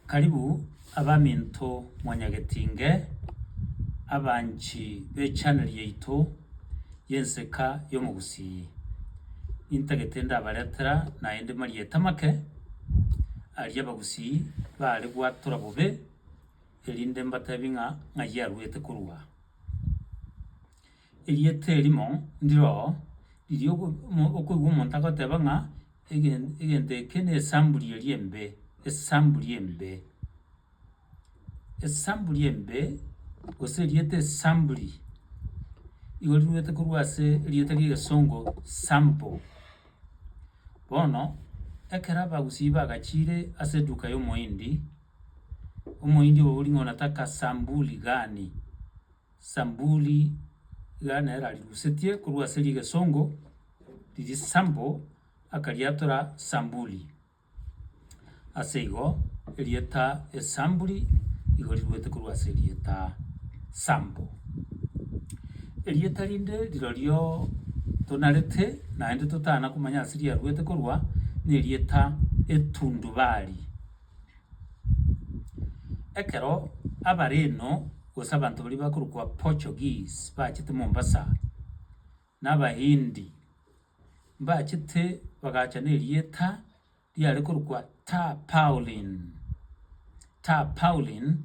Karibu abaminto mwanyagetinge, abanchi bechaneli yaito y'enseka y'omogusii. Nintagete ndabaretera naende marieta make aria abagusii baare gwatora bobe, erinde mbatebie ng'a ng'ai aruete korwa aa. Erieta erimo ndiro riria okoigwa omonto agoteba ng'a. Egen- egento eke nesamburi eria embe, esamburi embe, esamburi embe, gose erieta esamburi, igo riruete korwa ase erieta ri'egesongo sample. Bono, ekero abagusii bagachiire ase eduka ya omohindi, omohindi obo boring'ana taka sambuli gani. Sambuli iga nere arirusetie korwa ase rigesongo riri sample akariatora sambuli. Ase igo erieta esambuli igo riruete korwa ase erieta sample. Erieta rinde rirorio tonarete naende totana komanya ase riaruete korwa na erieta etundubari. Ekero Abareno gose abanto baria bakorokwa Portuguese bachete Mombasa, na Abahindi mbachete bagacha na erieta riare korokwa Tarpaulin. Tarpaulin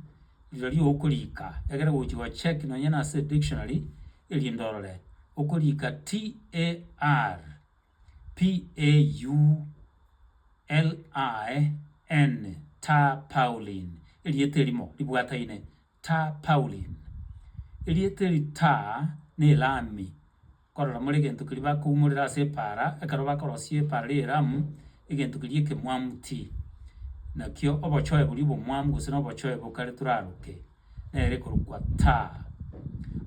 rirorio okorika egere ogochi go check nonye nase dictionary erinde orore, okorika T-A-R. P-a-u-l-i-n-n, ta pau'lin, erieta erimo ribwataine, ta pau'lin. Erieta eri ta n'Elami, korora more egento keria bakoumorera ase epaara, ekero bakorosia epaara ria Elamu, egento keria ekemwamu ti. Nakio obochoe boria obomwamu gose na obochoe bokare toraroke. nere korokwa Taa.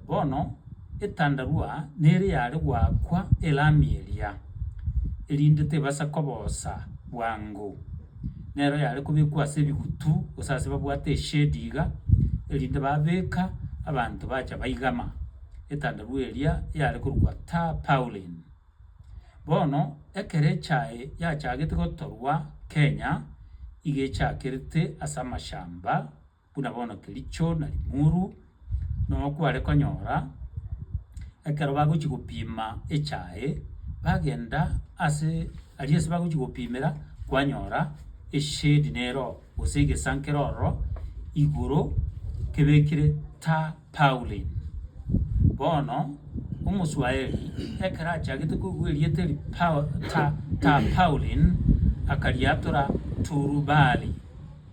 Bono etandarua nere yare goakwa elami eria, erinde tebasa koboosa bwango. Nero yare kobekwa ase ebigutu, gose ase babwate eshedi iga, erinde babeka, abanto bacha baigama. Etandarua eria yare korokwa Taa Paulin. Bono ekero echa eye yachagete gotorwa Kenya, iga echakerete ase amashamba. buna bono Kericho na Limuru, noo kware konyora ekero bagochia gopima echae, bagenda ase aria ase bagochia gopimera, kwanyora eshade nero gose egesankera ororo igoro kebekire tarpaulin. Bono, omoswaeri ekero achagete kobua erieta eri pau ta tarpaulin, akariatora turubali.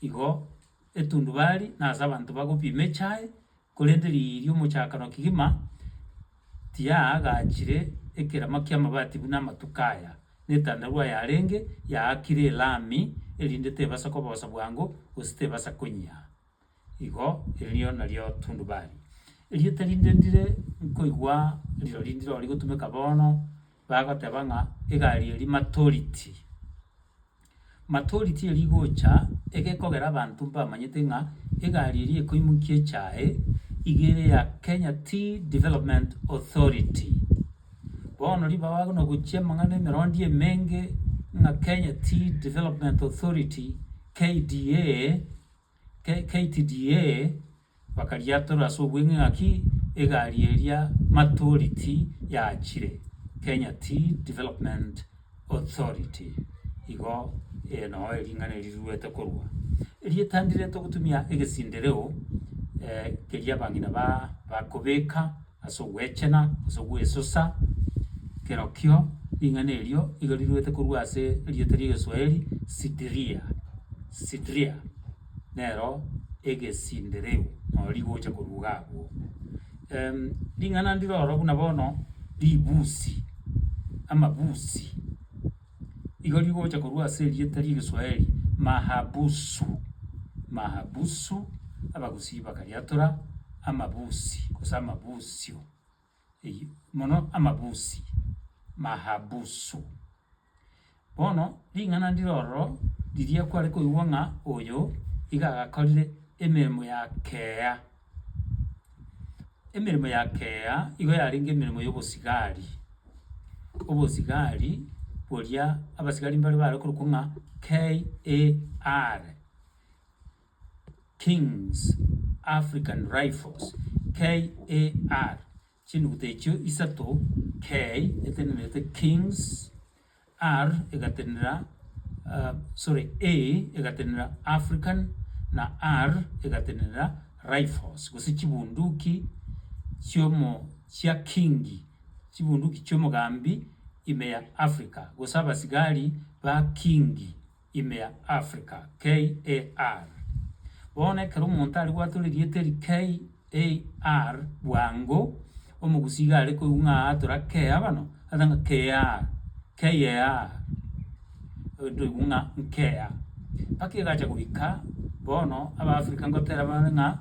Igo etundubari nase abanto bagopima echae, korende riiri omochakano kegima tiyaagachire ekerama ki'amabati buna amatuko aya, na etandaru ayarenge yaakire elami, erinde tebasa koboosa bwango, gose tebasa konyia. Igo erio nario tundubari. Erieta rinde ndire nkoigwa rirori ndire rigotumeka bono. Bagoteba ng'a egari eria maturity. Maturity eria igocha egekogera abanto mbamanyete ng'a egari eria ekoimokia echae iga ere ya Kenya Tea Development Authority. Bono ribaga agwo nogochia amang'ana emerondi emenge ng'a Kenya Tea Development Authority, KDA, KTDA bakariatora ase obweng'e ng'aki egari eria maturity yachire Kenya Tea Development Authority igo noo ering'ana eri riruete korwa. Erieta ndireete gotumia egesindireo keria abang'ina bakobeka. ase ogwechena gose ogwesosa, kerokio ring'ana erio nigo riruete korwa ase erieta ri'egeswaeri Sidiria, Sidria, nero egesindireu naro rigocha koruga agwo. Ring'ana ndiro oro buna bono ribusi, amabusi. Igo rigocha korwa ase erieta ri'Egeswahili mahabusu, mahabusu, Abagusii bakariatora amabusi gose amabusio, eyio mono amabusi, mahabusu. Bono ring'ana ndire ororo riria kware koigwa ng'a oyo iga agakorire emeremo ya kea. Emeremo ya kea igo yarenge emeremo y'obosigari, obosigari boria abasigari mbare bare korokwa ng'a KAR, Kings African Rifles, KAR, chinuguta echio isato, K etenenete Kings. Ar egatenena sorry A egatenena African na Ar egatenena Rifles gose chibunduki chiomo chia Kingi chibunduki chiomogambi ime ya Africa gose abasigari ba Kingi. ime ya Africa, KAR. Bono ekero omonto aria gwatwa erieta eri KAR bwango, Omogusii iga are koigwa ng'a atora KAR, agote ng'a KAR, KAR, ntoigwe ng'a nkea. Mpaka egacha goika bono Abaafrika ngotera bare ng'a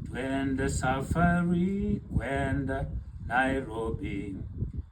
Twende safari kwenda Nairobi.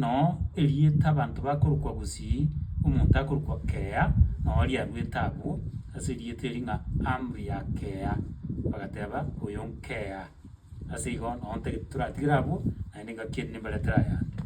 Noo erieta abanto bakorokwa gusii, omonto akorokwa Kea, noo riaruete abwo ase erieta eri ng'a Amri ya Kea, bagateba oyo nkea. Ase igo nonte toratigere abwo, naende ngaki eri nimbaretere ayande.